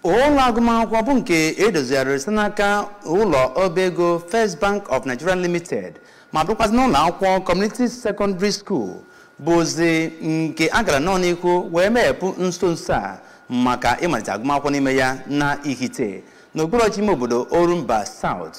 ụlọ agụmakwụkwọ bụ nke edozigharịrị site n'aka ụlọ ọba ego First Bank of Nigeria Limited ma bụrụkwazị n'ụlọ akwụkwọ Community Secondary School bụzi nke a gara nnọọ n'ihu wee meghepụ nso nso a maka ịmalite agụmakwụkwọ n'ime ya na Ihite n'okpuru ọchịchị ime obodo Orumba South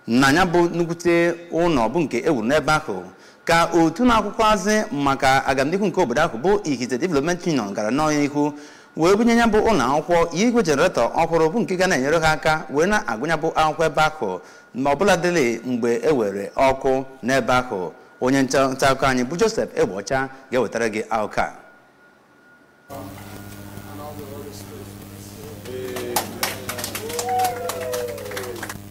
na ya bụ nnukwute ụlọ bụ nke ewuru n'ebe ahụ ka otu na-akwụkwazị maka agamnihu nke obodo ahụ bụ Ihite Development Union gara nnọọ n'ihu wee bunye ya bụ ụlọ akwụkwọ igwe jeneretọ ọhụrụ bụ nke ga na-enyere ha aka wee na-agụ ya bụ akwụkwọ ebe ahụ ma ọbụla dịrị mgbe e were ọkụ n'ebe ahụ onye nta akụkọ anyị bụ Joseph Egbeọcha ga-ewetara gị akụkọ a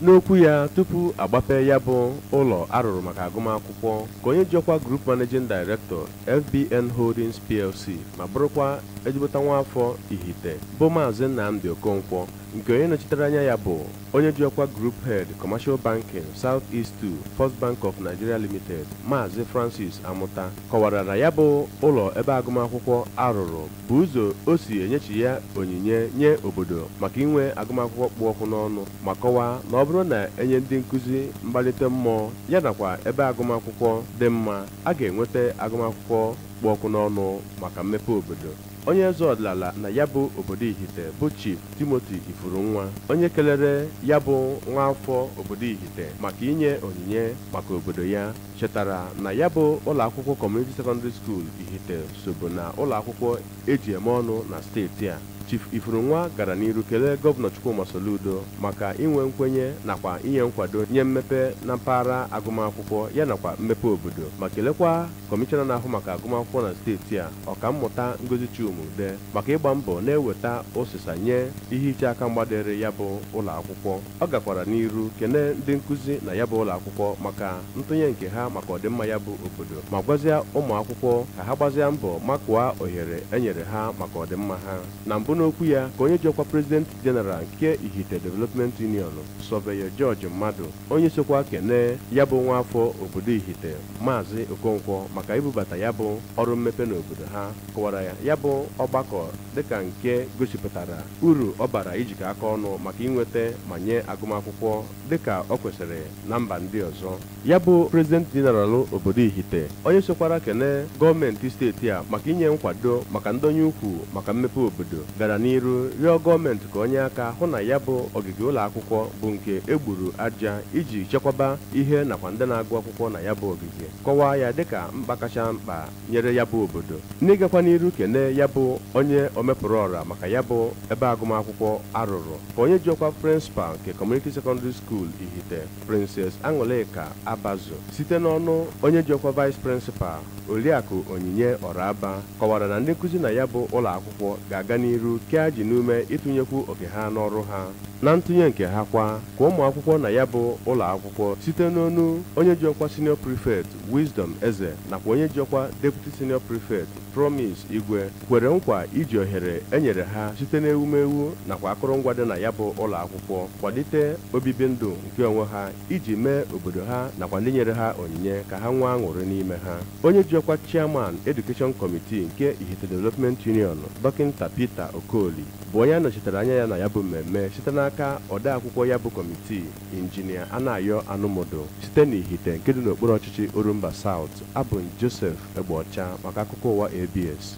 n'okwu ya tupu agbape ya bụ ụlọ arụrụ maka agụmakwụkwọ ka onye ji ọkwa Group Managing Director FBN Holdings PLC ma bụrụkwa ezigbote nwa afọ Ihite bụ Maazị Nnamdi Okonkwo nke onye nọchitere anya ya bụ onye ji ọkwa Group Head Commercial Banking South East 2 First Bank of Nigeria Limited Maazị Francis Amụta kọwara na ya bụ ụlọ ebe agụmakwụkwọ arụrụ bụ ụzọ o si enyechigha onyinye nye obodo maka inwe agụmakwụkwọ kpụ ọkụ n'ọnụ ma kọwaa na ọ bụrụ na enye ndị nkụzi mgbalite mmụọ ya nakwa ebe agụmakwụkwọ dị mma a ga-enweta agụmakwụkwọ kpụ ọkụ n'ọnụ maka mmepe obodo Onye eze ọdịnala na ya bụ obodo Ihite bụ Chief Timothy Ifurunwa, onye kelere ya bụ nwaafọ obodo Ihite maka inye onyinye maka obodo ya, chetara na ya bụ ụlọakwụkwọ Community Secondary School Ihite sobu na ụlọakwụkwọ e ji eme ọnụ na steeti a. Chief Ifurunwa gara n'iru kelee Gọvanọ Chukwuma Soludo maka inwe nkwenye nakwa inye nkwado nye mmepe na mpaghara agụmakwụkwọ ya nakwa mmepe obodo ma kelekwa Kọmishọna na-ahụ maka agụmakwụkwọ na steeti a, Ọkammụta Ngozi Chuma-Udeh, maka ịgba mbọ na-eweta ụsịsa nye ihe iche aka mgba dịịrị ya bụ ụlọ akwụkwọ. Ọ gakwara n'iru kene ndị nkụzi na ya bụ ụlọ akwụkwọ maka ntụnye nke ha maka ọdịmma ya bụ obodo ma gwazịa ụmụ akwụkwọ ka ha gbazịa mbọ makụọ ohere e nyere ha maka ọdịmma ha. Na mbụ n'okwu ya ka onye ji ọkwa President General nke Ihite Development Union, Sọveyọ George Mmadụ, onye sokwa kene ya bụ nwa afọ obodo Ihite Maazị Okonkwo maka ibubata ya bụ ọrụ mmepe n'obodo ha kọwara ya bụ ọgbakọ dịka nke gosipụtara uru ọ bara ijikọ aka ọnụ maka inweta ma nye agụmakwụkwọ dịka o kwesịrị na mba ndị ọzọ ya bụ prezident jeneralụ obodo Ihite onye sokwara kene gọọmenti steeti a maka inye nkwado maka ndọnye ụkwụ maka mmepe obodo gara n'iru rịọ gọọmenti ka o nye aka hụ na ya bụ ogige ụlọ akwụkwọ bụ nke e gburu aja iji chekwaba ihe nakwa ndị na-agụ akwụkwọ na ya bụ ogige kọwaa ya dịka mkpa kacha mkpa nyere ya bụ obodo n'ịgakwa n'iru kene ya bụ onye omepụrụ ọra maka ya bụ ebe agụmakwụkwọ a rụrụ ka onye ji ọkwa principal nke Community Secondary School Ihite Princess Aṅụlịka Abazu site n'ọnụ onye ji ọkwa vice principal Oriakụ Onyinye Ọraba kọwara na ndị nkụzi na ya bụ ụlọakwụkwọ ga-aga n'iru kee ajị n'ume ịtụnyekwu oke ha n'ọrụ ha. Na ntụnye nke ha kwa, ka ụmụakwụkwọ na ya bụ ụlọakwụkwọ site n'ọnụ onye ji ọkwa Senior Prefect Wisdom Eze nakwa onye ji ọkwa Deputy Senior Prefect Promise Igwe kwere nkwa iji ohere e nyere ha site n'ewumewu nakwa akụrụngwa dị na ya bụ ụlọakwụkwọ kwalite obibi ndụ nke onwe ha iji mee obodo ha nakwa ndị nyere ha onyinye ka ha nwee aṅụrị n'ime ha onye ji ọkwa chairman Education Committee nke Ihite Development Union dọkịnta Peter Okoli bụ onye a nọchitere anya ya na ya bụ mmemme site n'aka odeakwụkwọ ya bụ kọmitii injinia Anayọ Anụmudu site n'Ihite nke dị n'okpuru ọchịchị Orumba South abụ Joseph Egbeọcha maka akụkọ ụwa ABS